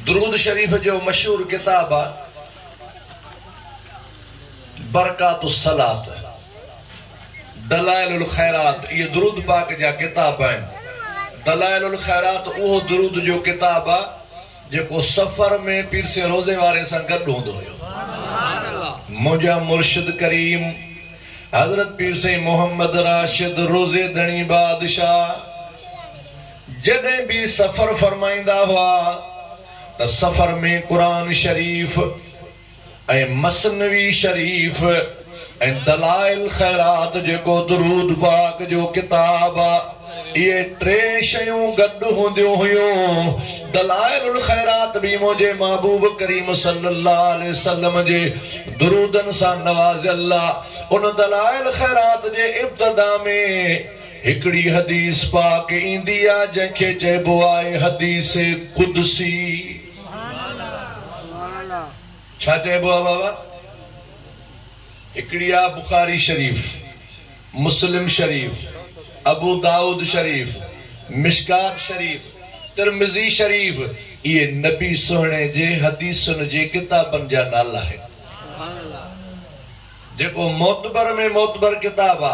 درود شريف جو مشهور ڪتاب آ برڪات الصلات دلائل الخيرات اهي درود پاڪ جا ڪتاب آهن دلائل الخيرات اهو درود جو ڪتاب آ جيڪو سفر ۾ پير سين روزي واري سان گڏ هوندو هيو منهنجا مرشد ڪريم حضرت پير سين محمد راشد روزي ڌڻي بادشاهه جڏهن به سفر فرمائيندا هئا ته سفر ۾ قرآن شريف ۽ مثنوي شريف ۽ دلائل خيرات جيڪو درود پاڪ جو ڪتاب آ اهي ٽي شيون گڏ هونديون هيون دلائل الخيرات به منهنجي محبوب ڪريم صلي الله عليه وسلم جي درودن سان نوازيل آ ان دلائل خيرات جي ابتدا ۾ هڪڙي حديث پاڪ ايندي آ جنهن کي چئبو آ حديث قدسي ڇا چئبو آ بابا هڪڙي آ بخاري شريف مسلم شريف ابو دائود شريف مشڪات شريف ترمذي شريف اهي نبي سهڻي جي حديثن جي ڪتابن جا نالا آهن جيڪو معتبر ۾ معتبر ڪتاب آ.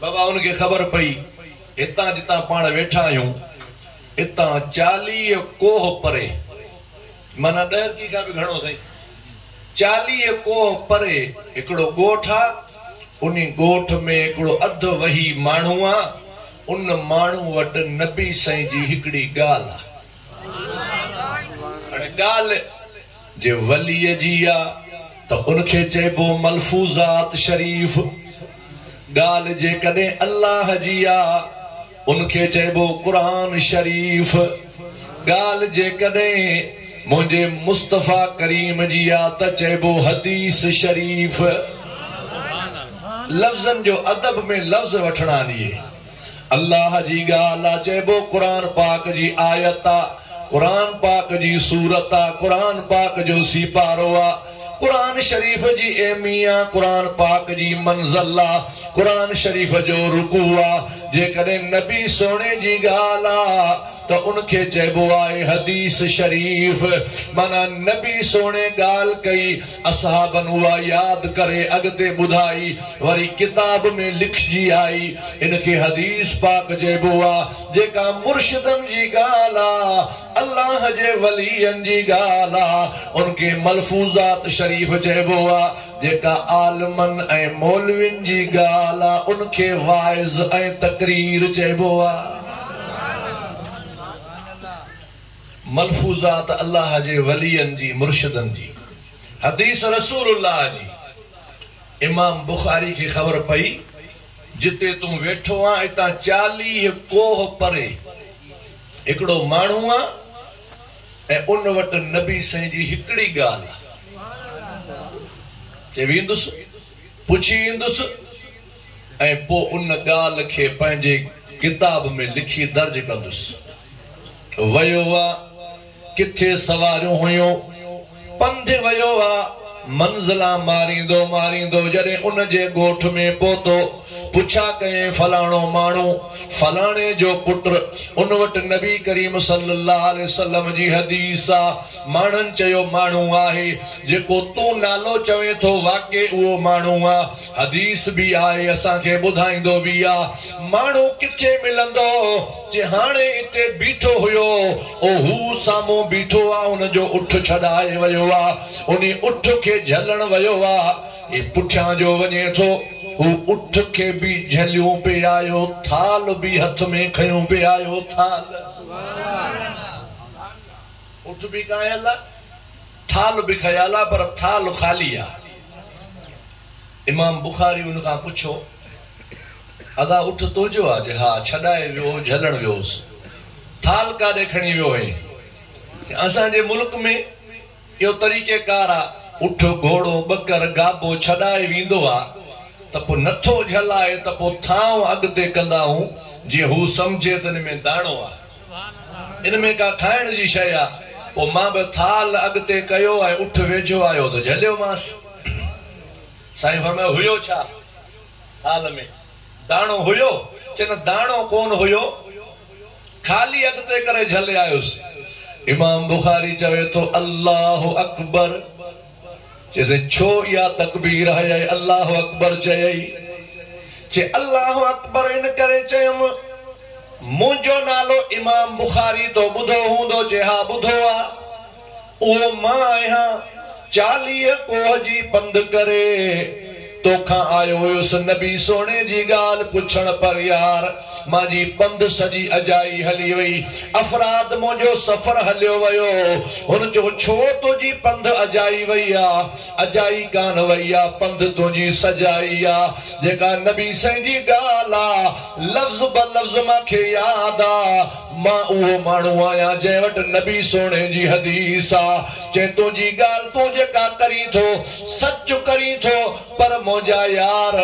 بابا ان کي خبر پئي هتان جتان پاڻ ويٺا آهيون اتان چاليهه ڪوهه پري معنيٰ ڏهه ڪي کان به گهڻو سائين چاليهه ڪوهه پري هڪڙو ڳوٺ آ ان ڳوٺ ۾ هڪڙو اڌ وهي ماڻهو آ ان ماڻهو وٽ نبي سائين جي هڪڙي ڳالهه آ هاڻي ڳالهه جي وليء جي آ ته ان کي چئبو ملفوظات شريف. ڳالهه جيڪڏهن الله جي آ ان کي چئبو قرآن شريف. ڳالهه جيڪڏهن منهنجي مصطفيٰ ڪريم جي آ ته چئبو حديث شريف. لفظن جو ادب ۾ لفظ وٺڻ آنيئي الله جي ڳالهه آ چئبو قرآن پاڪ جي آيت آ قرآن پاڪ جي سورت آ قرآن پاڪ جو سيپارو آ قرآن شريف جي ايمي آ قرآن پاڪ جي منزل آ قرآن شريف جو رڪوع آ جيڪڏهن نبي سهڻي جي ڳالهه آ ته ان کي چئبو آهي حديث شريف معنيٰ نبي سهڻي ڳالهه ڪئي اصحابن اها ياد ڪري اڳتي ٻڌائي وري ڪتاب ۾ لکجي آئي. ان کي حديث پاڪ چئبو آ. جيڪا مرشدن جي ڳالهه آ، الله جي ولين جي ڳالهه آ، ان کي ملفوظات شريف چئبو آ. جيڪا عالمن ۽ مولوين جي ڳالهه آ، ان کي واعظ ۽ تقرير چئبو آ. ملفوظات الله جي ولين جي مرشدن جي حديث رسول الله جي امام بخاري کي خبر پئي جتي تون ويٺو آن اتان چاليهه ڪوهه پري هڪڙو ماڻهو آ ۽ ان وٽ نبي سائين جي هڪڙي ڳالهه آ چئي ويندس پڇي ايندس ۽ پو ان ڳالهه کي پنهنجي ڪتاب ۾ لکي درج ڪندس. ويو وا، ڪٿي سواريون هيون، پنڌ ويو وا، منزلا ماريندو ماريندو جڏهن ان جي ڳوٺ ۾ پهتو، پڇا ڪيائين فلاڻو ماڻهو، فلاڻي جو پٽ، ان وٽ نبي ڪريم صلّي الله عليه وسلّم جي حديث آ، ماڻهن چيو ماڻهو آهي، جيڪو تون نالو چوين ٿو واقعي اهو ماڻهو آ، حديث به آهي اسان کي ٻڌائيندو به آ، ماڻهو ڪٿي ملندو؟ جي هاڻي اتي بيٺو هيو او هو سامهون بيٺو آ ان جو اٺ ڇڏائي ويو آ انهي اٺ کي جهلڻ ويو آ هي پٺيان جو وڃي ٿو هو اٺ کي به جهليون پي آيو ٿال به هٿ ۾ کنيون پي آيو ٿال اٺ به کنيل آ ٿال به کنيل آ پر ٿال خالي آ امام بخاري ان کان پڇيو. ادا اٺ تنهنجو آ جي ها ڇڏائي ويو هو جهلڻ ويو هوس ٿال ڪاڏي کڻي ويو هئين کي اسان جي ملڪ ۾ اهو طريقي ڪار آ اٺ گهوڙو ٻڪر گابو ڇڏائي ويندو آ ته پو نٿو جهلائي ته پو ٿانو اڳتي ڪندا هون جي هو سمجهي ته ان ۾ داڻو آ ان ۾ ڪا کائڻ جي شئي آ پو مان به ٿال اڳتي ڪيو ۽ اٺ ويجهو آيو ته جهليو مانس سائين فرمايو هيو ڇا؟ حال ۾ داڻو هيو ڪن داڻو ڪون هيو، خالي اڳتي ڪري جهلي آيس. امام بخاري چوي ٿو، الله اڪبر! چي سائين ڇو اها تڪبير هيء الله اڪبر چيئي؟ چي الله اڪبر ان ڪري چيم، منهنجو نالو امام بخاري تو ٻڌو هوندو؟ چي ها ٻڌو آ. اهو مان آهيان، چاليهه ڪوهه جي پنڌ ڪري توکان آيو هيس نبي سهڻي جي ڳالهه پڇڻ پر يار مانجي پنڌ سڄي اجائي هلي وئي افراد منهنجو سفر هليو ويو هن چيو ڇو تنهنجي پنڌ اجائي وئي آ اجائي ڪانه وئي آ پنڌ تنهنجي سجائي آ جيڪا نبي سائين جي ڳالهه آ لفظ بلفظ مانکي ياد آ مان اهو ماڻهو آهيان جنهن وٽ نبي سهڻي جي حديث آ، جنهن تنهنجي ڳالهه تون جيڪا ڪرين ٿو، سچ ڪرين ٿو، پر منهنجا يار!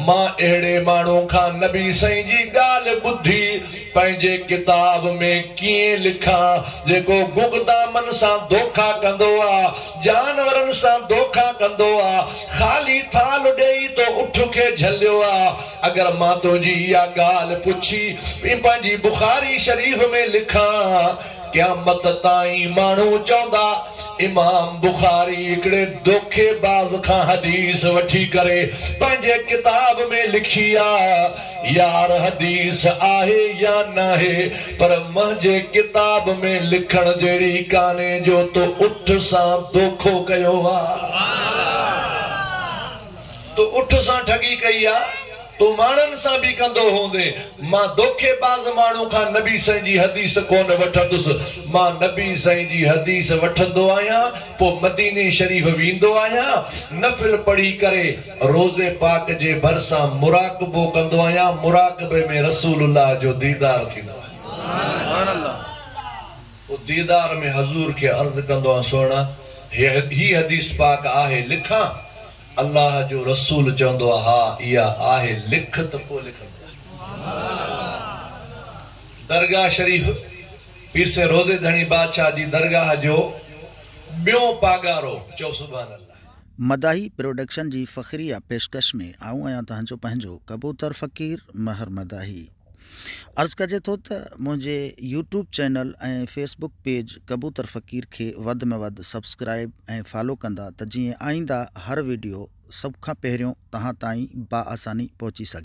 مان اهڙي ماڻهو کان نبي سائين جي ڳالهه ٻڌي پنهنجي ڪتاب ۾ ڪيئن لکان، جيڪو گگدامن سان دوکا ڪندو آ، جانورن سان دوکا ڪندو آ، خالي ٿالهه ڏيئي تو اٺ کي جهليو آ. اگر مان تنهنجي اها ڳالهه پڇي ۽ پنهنجي بخاري شريف ۾ لکان، قيامت تائين ماڻهو چوندا، امام بخاري هڪڙي دوکي باز کان حديث وٺي ڪري پنهنجي ڪتاب ۾ لکي آ، يار حديث آهي يا ناهي پر منهنجي ڪتاب ۾ لکڻ جهڙي ڪانهي جو تو اٺ سان دوکو ڪيو آ. تو اٺ سان ٺڳي ڪئي آ، تون ماڻهن سان به ڪندو هوندي، مان دوکي باز ماڻهو کان نبي سائين جي حديث ڪونه وٺندس، مان نبي سائين جي حديث وٺندو آهيان، پوء مديني شريف ويندو آهيان، نفل پڙهي ڪري روضي پاڪ جي ڀرسان مراقبو ڪندو آهيان، مراقبي ۾ رسول الله جو ديدار ٿيندو آهي. پوء ديدار ۾ حضور کي عرض ڪندو آ سهڻا! هي حديث پاڪ آهي لکان؟ الله جو رسول چوندو آ ها اها آهي لک ته پوء لکندو آ. درگاهه شريف پير سين روضي ڌڻي بادشاهه جي درگاهه جو ٻيون پاڳارو چئو سبحان الله. مداحي پروڊڪشن جي فخريه پيشڪش ۾ آئون آهيان تهنجو پنهنجو ڪبوتر فقير مهر مداحي. عرض ڪجي ٿو ته منهنجي YouTube channel ۽ Facebook page Kabootar Faqir کي وڌ ۾ وڌ سبسڪرائيب ۽ فالو ڪندا ته جيئن آئينده هر ويڊيو سڀ کان پهريون توهان تائين با آساني پهچي سگهي.